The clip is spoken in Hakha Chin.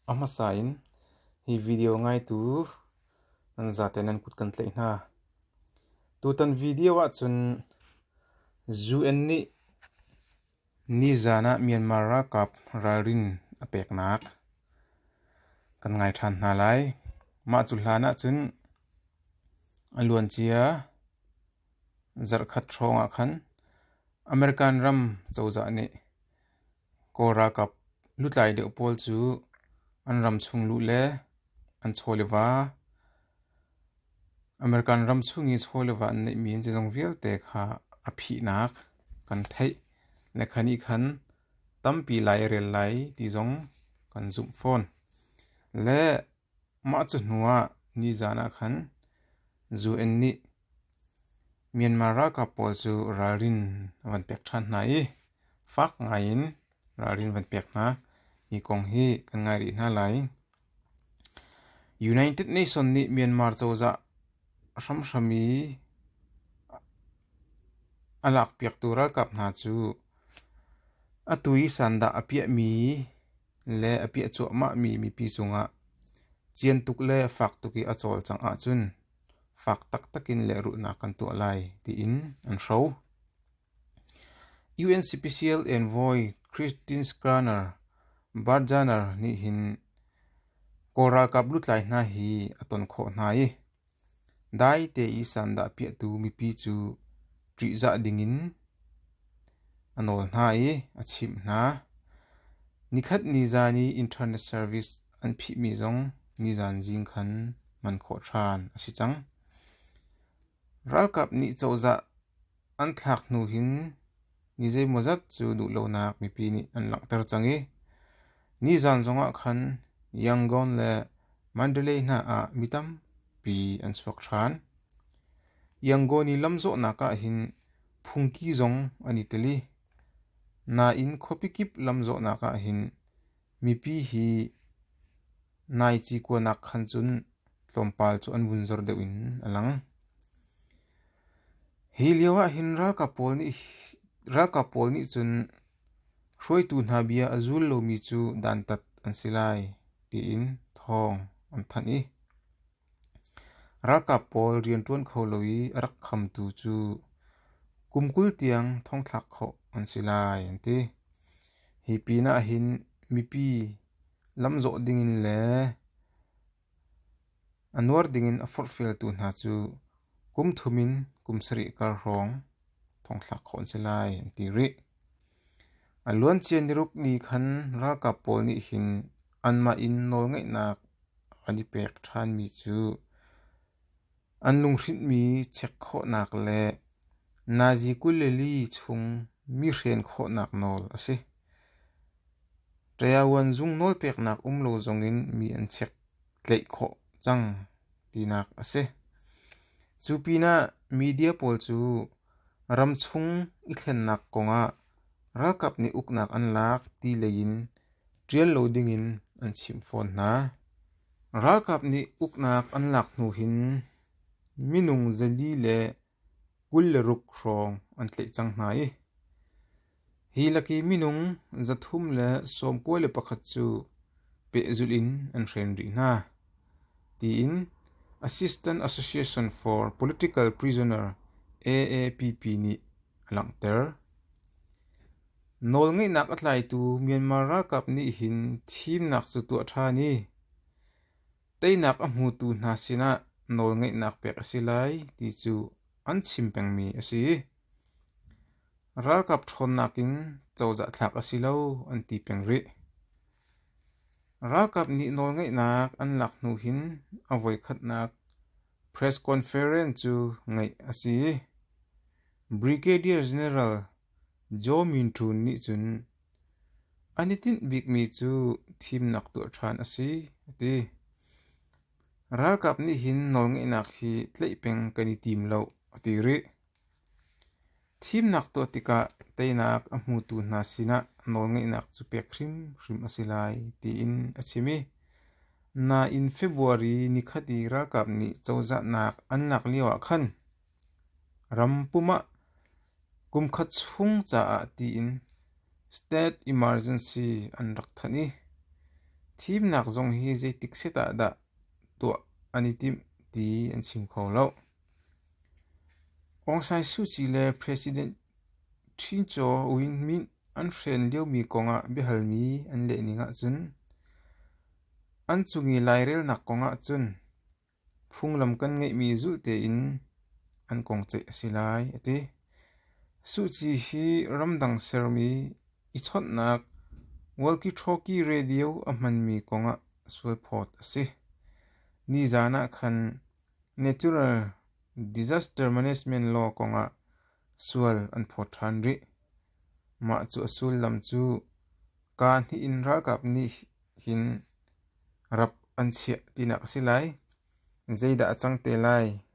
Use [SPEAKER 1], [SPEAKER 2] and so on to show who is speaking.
[SPEAKER 1] A hmasa in hi video ngaitu nan zate nan kut kan tlaih hna. Tutan video ahcun UN nih nizan ah Myanmar ralkap ralrin a peknak kan ngai ṭhan hna lai. Mah cu hlan ahcun a luancia zarhkhat hrawng ah khan American ram cozah nih Kawl ralkap lutlai deuh pawl cu an ram chung luh le an chawleva, American ram chung i chawleva an neihmi an zeizong vialte kha a phihnak kan theih le kha nih khan tampi lai a rel lai ti zong kan zumh fawn. Le Mah cahnu ah nizaan ah khan UN nih Myanmar ralkap pawl cu ralrin a van pek ṭhan hna i fak ngaiin ralrin van pek hna. Hi kong hi kan ngai rih hna lai. United Nations nih Myanmar cozah hramhram i a lakpiaktu ralkap hna cu atu i sandah a piahmi le a piah cuahmahmi mipi cungah cian tuk le fak tuk i a cawlcangh ahcun fak taktak in lehrulhnak kan tuah lai tiin an hro. UN Special Envoy Christine Schraner Barjaner nih hin Kawl ralkap lutlai hna hi a ton khawh hna i Dai te i sandah piahtu mipi cu ṭihzah dingin a nawl hna i a chimh hna. Nikhat ni zan i internet service an phihmi zong nizan zing khan hman khawh ṭhan a si cang. Ralkap nih cozah An thlak hnu hin ni zeimawzat cu duhlonak mipi nih an langhter cang i nizan zongah khan Yangon le Mandalay hna ah mi tampi an chuak ṭhan. Yangon i lamzawhnak ah hin phungki zong an i tel i nain khuapi kip lamzawhnak ah hin Mipi hi nai ci kuanak khan cun tlawmpal cu an vun zor deuh in a lang. Hi lio ah hin ralkap pawl nih cun hruaitu hna bia a zul lomi cu dantat an si lai, tiin thawng an thanh i Ralkap pawl rian ṭuan kho lo i a rak khamtu cu kum kul tiang thongthlak khawh an si lai an ti. Hi pinah hin mipi lamzawh dingin le a nuar dingin a forhfialtu hna cu kum thum in kum sarih kar hrawng thongthlak khawh an si lai an ti rih. A luancia niruk ni khan ralkap pawl nih hin anmah in nawlngeihnak an i pek ṭhanmi cu an lunghrinhmi check khawhnak le Nazi kul le li chung mi hren khawhnak nawl a si. Ṭayavuan zung nawlpeknak um lo zongin mi an check tlaih khawh cang tinak a si. Cu pinah media pawl cu Ramchung i thlennak kongah ralkap nih uknak an lak ti lei in ṭial lo ding in an chimh fawn hna. Ralkap nih uknak an lak hnu hin minung zali le kul le ruk hrawng an tlaih cang hna i Hi laki minung zathum le sawmkua le pakhat cu pehzulh in an hren rih hna, tiin Assistant Association for Political Prisoner AAPP nih a langhter. Nawlngeihnak a tlaitu Myanmar ralkap nih hin thimnak cu tuah ṭhan i Teinak a hmutu hna sinah nawlngeihnak pek a si lai ti cu an chim pengmi a si. Ralkap ṭhawnnak in cozah thlak a si lo an ti peng rih. Ralkap nih nawlngeihnak an lak hnu hin a voikhatnak press conference cu ngeih a si. Brigadier General Jaw Min Ṭhun nih cun, A nitinh bikmi cu thimnak tuah ṭhan a si, a ti. Ralkap nih hin nawlngeihnak hi tlaih peng kan i tim lo, a ti rih. Thimnak tuah tikah teinak a hmutu hna sinah nawlngeihnak cu pek hrimhrim a si lai, tiin a chim i, nain February ni khat i ralkap nih cozahnak an lak lioah khan Ram pum ah kumkhat chung caah tiin state emergency an rak thanh i thimnak zong hi zeitik set ah dah tuah an i timh ti an chim kho lo. Aung San Suu Kyi le President Shin Chaw Win Myint an hren liomi kong ah biahalmi an lehning ahcun an cung i lairelnak kong ahcun Phunglam kan ngeihmi zulh tein an kong ceih a si lai, a ti. Suci hi ramdang sermi i chawnhnak walkie-talkie radio a hmanmi kong ah sualphawt a si. Nizaan ah khan Natural Disaster Management Law kong ah sual an phawt ṭhan rih. Mah cu a sullam cu kaa hnih in ralkap nih hin rap an chiah tinak a si lai. Zeidah a cang te lai?